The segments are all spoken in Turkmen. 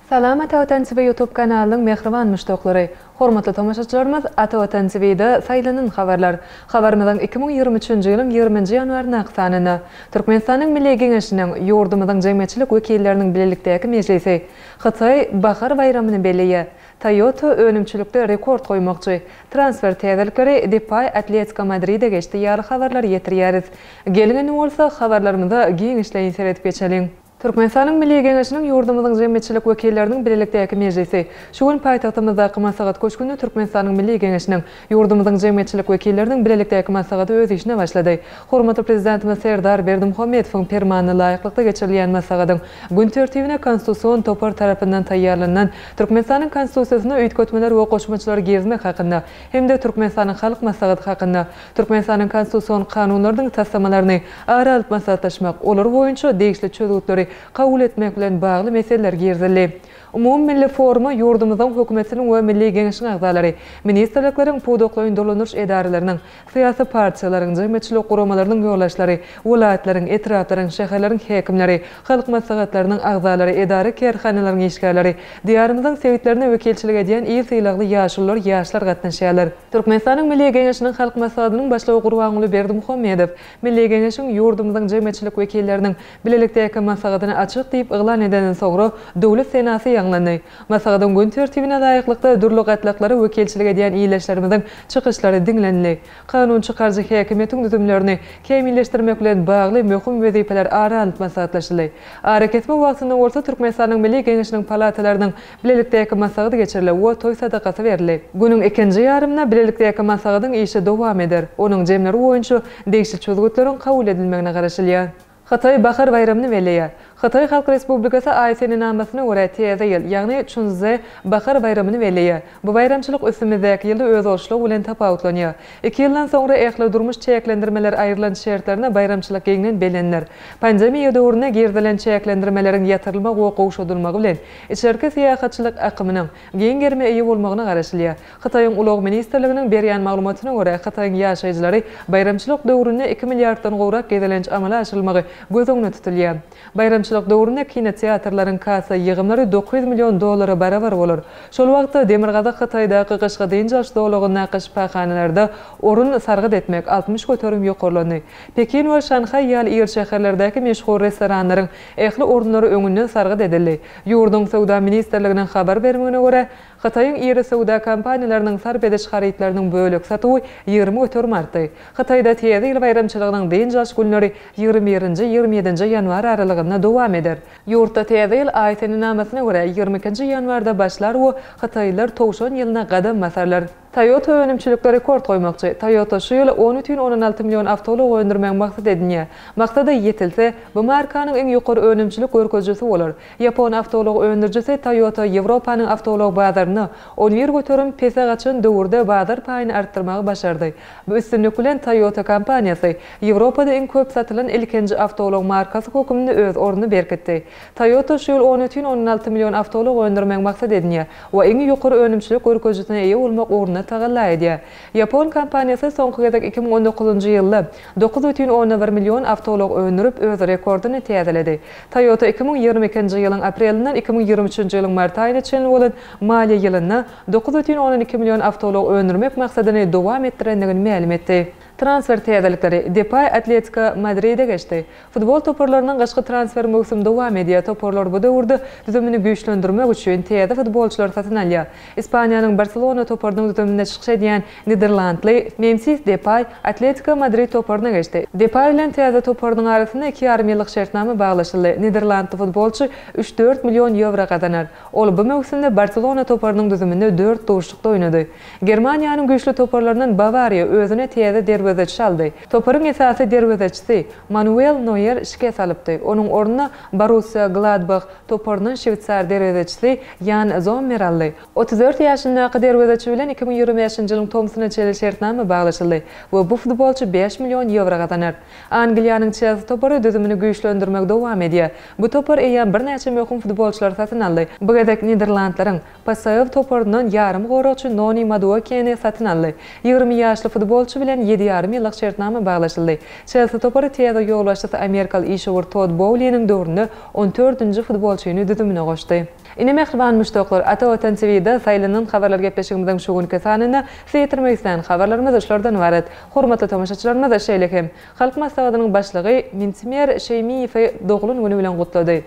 Salam Ata Watan TV YouTube kanalynyň mähriban muşdaklary! Hormatly tomaşaçylarymyz, Ata Watan TV-de Saýlanan habarlar. Habarymyzyň iki müň ýigrimi üçünji ýylyň ýigriminji ýanwaryndaky sanynda Türkmenistanyň Milli Geňeşiniň, ýurdumyzyň jemgyýetçilik wekilleriniň bilelikdäki mejlisi Hytaý bahar baýramyny belleýär. Toyota önümçilikde rekord goýmakçy. Transfer täzelikleri, Depay Atletiko Madride geçdi ýaly habarlary ýetirýäris. Geliň indi bolsa, habarlarymyza giňişleýin seredip geçeliň. Türkmenistanyň Milli Geňeşiniň ýurdumyzyň jemgyýetçilik wekilleriniň bilelikdäki mejlisi şu gün paýtagtymyzdaky Maslahat köşgünde Türkmenistanyň Milli Geňeşiniň, Ýurdumyzyň jemgyýetçilik wekilleriniň bilelikdäki maslahaty öz işine başlady. Hormatly Prezidentimiz Serdar Berdimuhamedowyň Permanyna laýyklykda geçirilýän maslahatyň gün tertibine Konstitusion topar tarapyndan taýýarlanylan Türkmenistanyň Konstitusiýasyna üýtgetmeler we goşmaçalar girizmek hakynda hem-de Türkmenistanyň Halk Maslahaty hakynda Türkmenistanyň Konstitusion Kanunlarynyň taslamalaryny ara alyp maslahatlaşmak, olar boýunça degişli çözgütleri kabul etmek bilen bagly meseleler girizildi. Umumymilli foruma ýurdumyzyň Hökümetiniň we Milli Geňeşiň agzalary, ministrlikleriň, pudaklaýyn dolandyryş edaralarynyň, syýasy partiýalaryň, jemgyýetçilik guramalarynyň ýolbaşçylary, welaýatlaryň, etraplaryň, şäherleriň häkimleri, halk maslahatlarynyň agzalary, edara-kärhanalaryň işgärleri, Diýarymyzyň sebitlerine wekilçilik edýän il sylagly ýaşulular, ýaşlar gatnaşýarlar. Türkmenistanyň Milli Geňeşiniň Halk Maslahatynyň Başlygy Gurbanguly Berdimuhamedow Milli Geňeşiň, ýurdumyzyň jemgyýetçilik wekilleriniň, Bilelikdäki maslahatyny açyk diýip yglan edenden soňra Döwlet senasy ýaňlandy. Maslahatyň gün tertibine laýyklykda dürli gatlaklara wekilçilik edýän ildeşlerimiziň çykyşlary diňlenildi. Kanun çykaryjy häkimiýetiň düzümlerini kämilleşdirmek bilen bagly möhüm wezipeler ara alnyp maslahatlaşyldy. Arakesme wagtynda bolsa Türkmenistanyň Milli Geňeşiniň palatalarynyň bilelikdäki maslahaty geçirilip we toý sadakasy berildi. Günüň ikinji ýarymynda bilelikdäki maslahatyň işi dowam eder. Onuň jemleri boýunça degişli çözgütleriň kabul edilmegine garaşylýar. Hytaý bahar baýramyny belleýär. Hytaý Halk Respublikasy Aý senenamasyna görä täze ýyl, ýagny Çunszze bahar baýramyny belleýär. Bu baýramçylyk üstümizdäki ýylda özboluşlygy bilen tapawutlanýar. Iki ýyldan soňra ähli durmuş çäklendirmeler aýrylan şertlerde baýramçylyk giňden bellenler. Pandemiýa döwründe girizilen çäklendirmeleriň ýatyrylmagy we gowşadylmagy bilen içerki syýahatçylyk akymynyň giň gerime eýe bolmagyna garaşylýar. Hytaýyň Ulag ministrliginiň berýän maglumatyna görä, Hytaýyň ýaşaýjylary baýramçylyk döwründe iki milliarddan gowrak gezelenç amala aşyrylmagy göz öňüne tutulýar. Baýramçylyk döwründe kinoteatrlaryň kassa ýygymlary dokuz ýüz million dollara barabar bolar. Şol wagtda Demirgazyk Hytaýdaky gyşky dynç alyş zolagyndaky şypahanalarda orun sargyt etmek altmyş göterim ýokarlandy. Pekin we Şanhaý ýaly iri şäherlerdäki meşhur restoranlaryň ähli orunlary öňünden sargyt edildi. Ýurduň Söwda ministrliginiň habar bermegine görä, Hytaýyň iri söwda kompaniýalarynyň sarp ediş harytlarynyň bölek satuwy ýigrimi göterim artdy. Hytaýda Täze ýyl baýramçylygynyň dynç alyş günleri ýigrimi birinji, ýigrimi ýedinji ýanwar aralygynda dowam eder. Ýurtda Täze ýyl aý senenamasyna görä ýigrimi ikinji ýanwarda başlar we hytaýlylar Towşan ýylyna gadam basarlar. Toyota önümçilikde rekord goýmakçy. Toyota şu ýyl on bütin ondan alty million awtoulag öndürmegi maksat edinýär. Maksada ýetilse, bu markanyň iň ýokary önümçilik görkezijisi bolar. Ýapon awtoulag öndürijisi Toyota Ýewropanyň awtoulag bazarynda on bir göterim pese gaçan döwürde bazar paýyny artdyrmagy başardy. Bu üstünlik bilen Toyota kompaniýasy Ýewropada iň köp satylan ilkinji awtoulag markasy hökmünde öz ornuny berkitdi. Toyota şu ýyl on ütün ondan alty million awtoulag öndürmegi maksat edinýär we iň ýokary önümçilik görkezijisine eýe bolmak ugrunda tagalla edýär. Ýapon kompaniýasy soňky gezek iki müň on dokuzynjy ýylda dokuz ütün ondan bir million awtoulag öndürip, öz rekordyny täzeledi. Toyota iki müň ýigrimi ikinji ýylyň aprelindan iki müň ýigrimi üçünji ýylyň mart aýyna çenli bolan maliýe ýylynda dokuz ütün ondan iki million awtoulag öndürmek maksadyny dowam etdirendigini mälim etdi. Transfer täzelikleri, Depay Atletiko Madride geçdi. Futbol toparlarynyň gyşky transfer möwsümi dowam edýär, toparlar bu döwürde düzümini güýçlendirmek üçin täze futbolçylary satyn alýar. Ispaniýanyň Barselona toparynyň düzüminde çykyş edýän niderlandly Memfis Depaý Atletiko Madrid toparyna geçdi. Depaý bilen täze toparynyň arasynda iki ýarym ýyllyk şertnama baglaşyldy. Niderlandly futbolçy üç-dört million ýewro gazanar. Ol bu möwsümde Barselona toparynyň düzüminde dört duşlukda oýnady. Germaniýanyň güýçli toparlaryndan Bawariýa özüne täze derwezeçi aldy. Toparyň esasy derwezeçisi Manuel Noýer şikes alypdy. Onuň ornuna Borussiýa Gladbah toparyndan şweýsar derwezeçisi Ýan Zommer aldy. Otuz dört ýaşyndaky derwezeçi bilen iki müň ýigrimi bäşinji ýylyň tomsuna çenli şertnama baglaşyldy we bu futbolçy bäş million ýewro gazanar. Angliýanyň Çelsi topary düzümini güýçlendirmegi dowam edýär. Bu topar eýýäm birnäçe möhüm futbolçylary satyn aldy. Bu gezek Niderlandlaryň PSV toparyndan ýarym goragçy Noni Maduokeni satyn aldy. Ýigrimi ýaşly futbolçy bilen ýedi ýarym ýyllyk şertnama baglaşyldy. Çelsi topary täze ýolbaşçysy amerikaly işewür Todd Bouliniň döwründe on dördünji futbolçyny düzümine goşdy. Ine mähriban muşdaklar, Ata Watan TV-de saýlanan habarlar gepleşigimiziň şu günki sanynda size ýetirmek islän habarlarymyz şulardan ybarat. Hormatly tomaşaçylarymyz şeýle hem Halk Maslahatynyň Başlygy Mintimer Şeýmiýewi doglan güni bilen gutlady.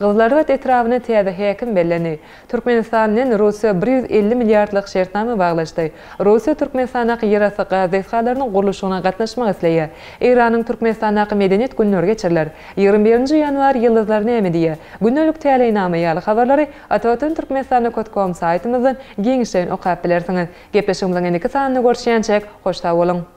Gyzylarbat etrabyna täze häkim bellendi. Türkmenistan bilen Russiýa bir ýüz elli milliardlyk şertnama baglaşdy. Russiýa Türkmenistandaky ýerasty gaz desgalarynyň gurluşygyna gatnaşmak isleýär. Eýranyň Türkmenistandaky medeniýet günleri geçiriler. Ýigrimi birinji ýanwar ýyldyzlar näme diýýär? Gündelik täleýnama ýaly habarlary Atawatan Türkmenistanda kot kom saýtymyzdan giňişleýin okap bilersiňiz. Gepleşigimiziň indiki sanynda görüşýänçäk, hoş sag boluň!